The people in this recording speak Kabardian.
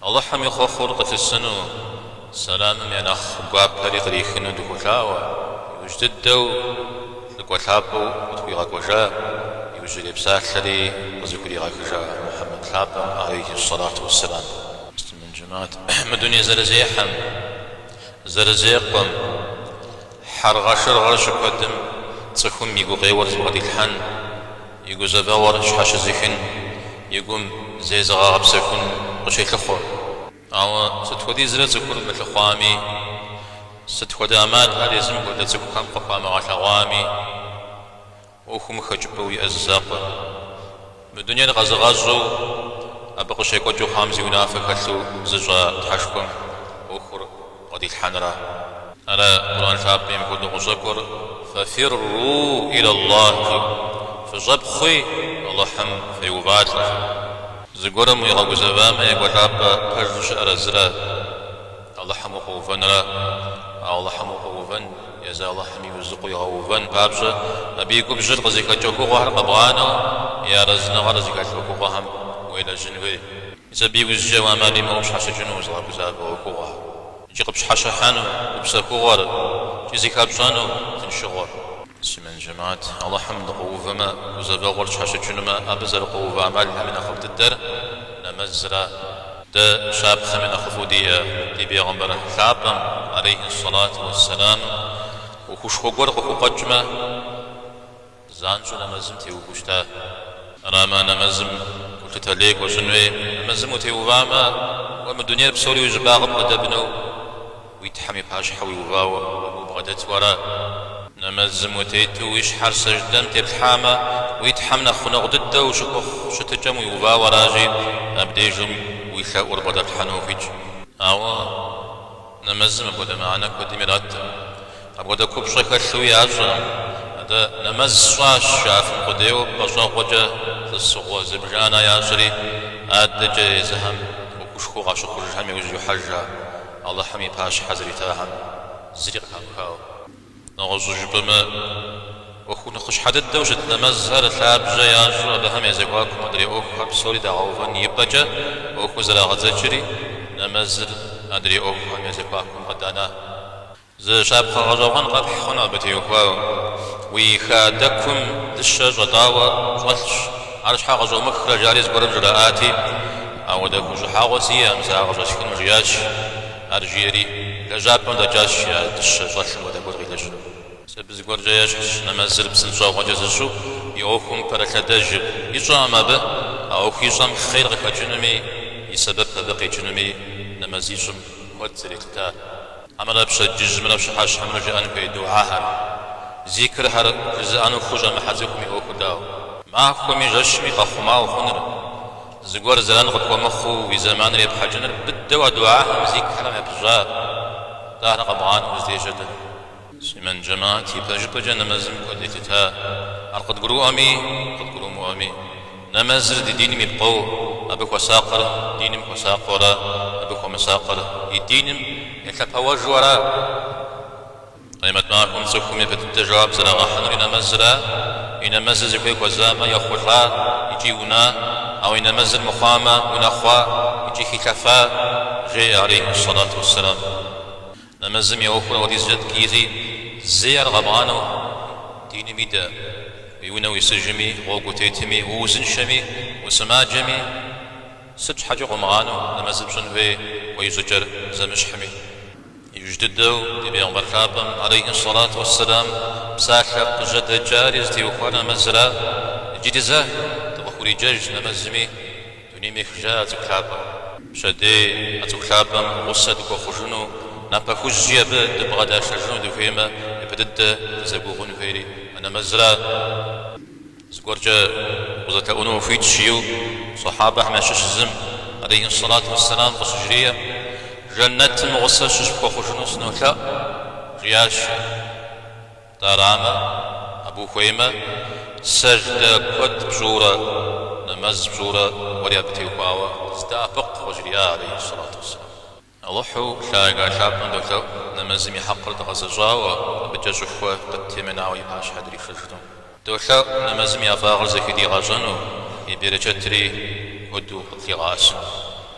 Алыхьым и хъуэхъур къылъысыну, Сэламым я нэхъ гуапэри кърихыну дыхуолъаӏуэ, иужь дыдэу, лӏыкӏуэ лъапӏэу къытхуигъэкӏуэжа, иужьрей псалъэри къызыхуригъэхыжа Мухьэмэд лъапӏэм алейхи ссалату уэсселам. Муслъымэн жэмаӏэт мы дуней зэрызехьэм, зэрызекъуэм, Хьэргъэшыргъэ щыкуэдым цӏыхум и гукъеуэр зыбгъэдилъхьэн, и гузэвэгъуэр щхьэщызыхын, и гум зезыгъэгъэпсэхун къыщелъыхъуэ. Ауэ сыт хуэдизрэ цӏыхур мылъыхъуами, сыт хуэдэ ӏэмалхэр езым хуэдэ цӏыхухэм къыхуамыгъэлъэгъуами, ӏуэхум хэкӏыпӏэу иӏэ зы закъуэ. Мы дунейр къэзыгъэщӏу, абы къыщекӏуэкӏыу хъуам зи унафэ хэлъу зыщӏа Тхьэшхуэм ӏуэхур бгъэдилъхьэнра. Ара Къурӏэн лъапӏэми мыпхуэдэу къыщӏэкӏуэр Фафирруу илаллахь, Фыщӏэпхъуи Алыхьым феувалӏэ. Зыгуэрым уигъэгузэвамэ, екӏуэлӏапӏэ пэжу щыӏэр зыра. Алыхьым укъуэувэнра. Алыхьым укъуэувэн, езы Алыхьыми узыкъуигъэувэн папщӏэ, абы и губжьыр къызыхэкӏэ ӏуэхугъуэхэр къэбгъанэу, и арэзыныгъэр зыхэлъ ӏуэхугъуэхэм уелэжьын хуей. Мис абы иужькӏэ ӏэмал имыӏэу пщхьэщыкӏыну узыгъэгузавэ ӏуэхугъуэхэр, икӏи къыпщхьэщыхьэну гупсэхугъуэр, икӏи зыхэпщӏэну тыншыгъуэр. Муслъымэн жэмаӏэт, Алыхьым дыкъуэувэмэ, гузэвэгъуэр щхьэщыкӏынумэ, абы зэрыкъуэувэ ӏэмалхэм и нэхъыфӏ дыдэр нэмэзра. Дэ щапхъэм и нэхъыфӏу диӏэ ди Бегъымбэр лъапӏэм, алейхи ссалату уэ сэлам, ӏуэхушхуэ гуэр къыхукъуэкӏмэ, занщӏэу нэмэзым теувэу щыта. Арамэ, нэмэзым гулъытэ лей хуэщӏын хуей, нэмэзым утеувамэ, уэ мы дунейр псори уи щӏыбагъым къыдэбнэу Уи Тхьэм и пащхьэ уиувауэ убгъэдэту ара. Нэмэзым утету уи щхьэр сэждэм теплъхьамэ, уи Тхьэм нэхъ гъунэгъу дыдэ ущыхуэхъу щытыкӏэм уиувауэ аращи, абдежым уи лъэӏур бгъэдэплъхьэну ухуитщ. Ауэ нэмэзым апхуэдэ мыхьэнэ куэдым иратрэ? Апхуэдэ купщӏэ хэлъу ящӏэрэ? Атӏэ, нэмэз сщӏащ, жаӏэфын къудейуэ пӏэщӏэгъуэкӏэ тӏысыгъуэ зыбжана ящӏри, адэкӏэ езыхэм ӏуэхушхуэу къащыхъужхэм иужь йохьэжхэ Алыхьым и пащхьэ зэритахэм зыри къыхамыхауэ. Нэгъуэщӏу жыпӏэмэ, ӏуэху нэхъыщхьэ дыдэу щыт нэмэзхэр лъабжьэ ящӏу абыхэм я зэхуакум адрей ӏуэхухэр псори дагъэувэн и пӏэкӏэ ӏуэхур зэрагъэдзэкӏри, нэмэзыр адрей ӏуэхухэм я зэхуакум къыданэ. Зы щапхъэ гъэщӏэгъуэн къэпхь хъун абы теухуауэ. Уи хадэкум дыщэ щӏэтӏауэ щӏэлъщ. Ар щхьэ къыщӏомыхрэ жари зыгуэрым жраӏати, ауэ дэ хущӏыхьэгъуэ сиӏэкъым сэ ар къыщӏэсхыну, жиӏащ. Ар жиӏэри, лэжьапӏэм дэкӏащ я дыщэ щӏэлъым хуэдэ гуэр къилэжьыну. Мис абы зыгуэркӏэ ещхьщ нэмэзыр псынщӏэгъуэкӏэ зыщӏу, и ӏуэхум пэрылъэдэжыр. Ищӏэкъым абы, а ӏуэху ищӏэм хъер къыхэкӏынуми, и сэбэп абы къикӏынуми нэмэз ищӏым куэд зэрелъытар. Хьэмэрэ пщэдджыжьымрэ пщыхьэщхьэмрэ жыӏэн хуей духьэхэр, зикрхэр жызыӏэну хущӏэмыхьэ цӏыхум и ӏуэхур дауэ? Махуэми жэщми къэхъумауэ хъунур, зыгуэр зэран къыпхуэмыхъуу уи зэманыр епхьэкӏыныр быдэу а духьэхэм зикрхэм япыщӏа, атӏэ ахэр къэбгъанэу укъыздежьэр дэнэ? Муслъымэн джэмат, ипэжыпӏэкӏэ нэмэзым куэд елъыта, ар къыдгурыӏуэми, къыдгурымыӏуэми. Нэмэзыр ди диным и пкъо, абы хуэсакъыр диным хуэсакъыурэ абы хуэмысакъыр и диным елъэпэуэжуэра? Къемэт махуэм цӏыхум япэ дыдэ жэуап зэрагъэхьынур и нэмэзра? И нэмэзыр зыхуей хуэзамэ, ехъулӏа икӏи уна, ауэ и нэмэзыр мыхъуамэ, унэхъуа икӏи хилъэфа? жеӏэ алейхьи сэлату уэсселам. Нэмэзым и ӏуэхур апхуэдизкӏэ ткӏийщи, зэи ар къэбгъанэу диным идэ. Уи унэ уисыжми, гъуэгу утетми, уузыншэми, усымаджэми, сыт щхьэкӏэ къумыгъанэу нэмэзыр пщӏын хуей уэ и щӏыкӏэр зэмыщхьми? Иужь дыдэу ди Бегъымбар лъапӏэм алейхьи ссалату уэсселам псалъэ къыжьэдэкӏари зытеухуар нэмэзыра. Иджыри зэ дыкъыхуриджэж нэмэзми. Дунейм ехыжа а цӏыху лъапӏэм. Пщэдей а цӏыху лъапӏэм гъусэ дыхуэхъужыну, напэ хужьи абы дыбгъэдашэжыну дыхуеймэ, япэ дыдэ дызэгугъун хуейри а нэмэзра? Зыгуэркӏэ укъызэлъэӏуну ухуитщ жиӏэу, сэхьабэхэм ящыщ зым, алейхьиссалату уэсселам, къыщыжриӏэм, Жэнэтым гъусэ сыщыпхуэхъужыну сынолъэӏу, жиӏащ ар. Тӏэ арамэ, абы ухуеймэ, сэждэ куэд пщӏыурэ, нэмэз пщӏыурэ уэри абы теухуауэ здэӏэпыкъу, къыжриӏа алейхьи сэлату уэсселам. Алыхьу лъагэ лъапӏэм долъэӏу нэмэзым и хьэкъыр дгъэзэщӏауэ, абыкӏэ щӏыхуэ къыттемынауэ и пащхьэ дришэжыну. Долъэӏу нэмэзым и ӏэфӏагъыр зэхыдигъэщӏэну, и берычэтри куэду къытлигъэӏэсыну.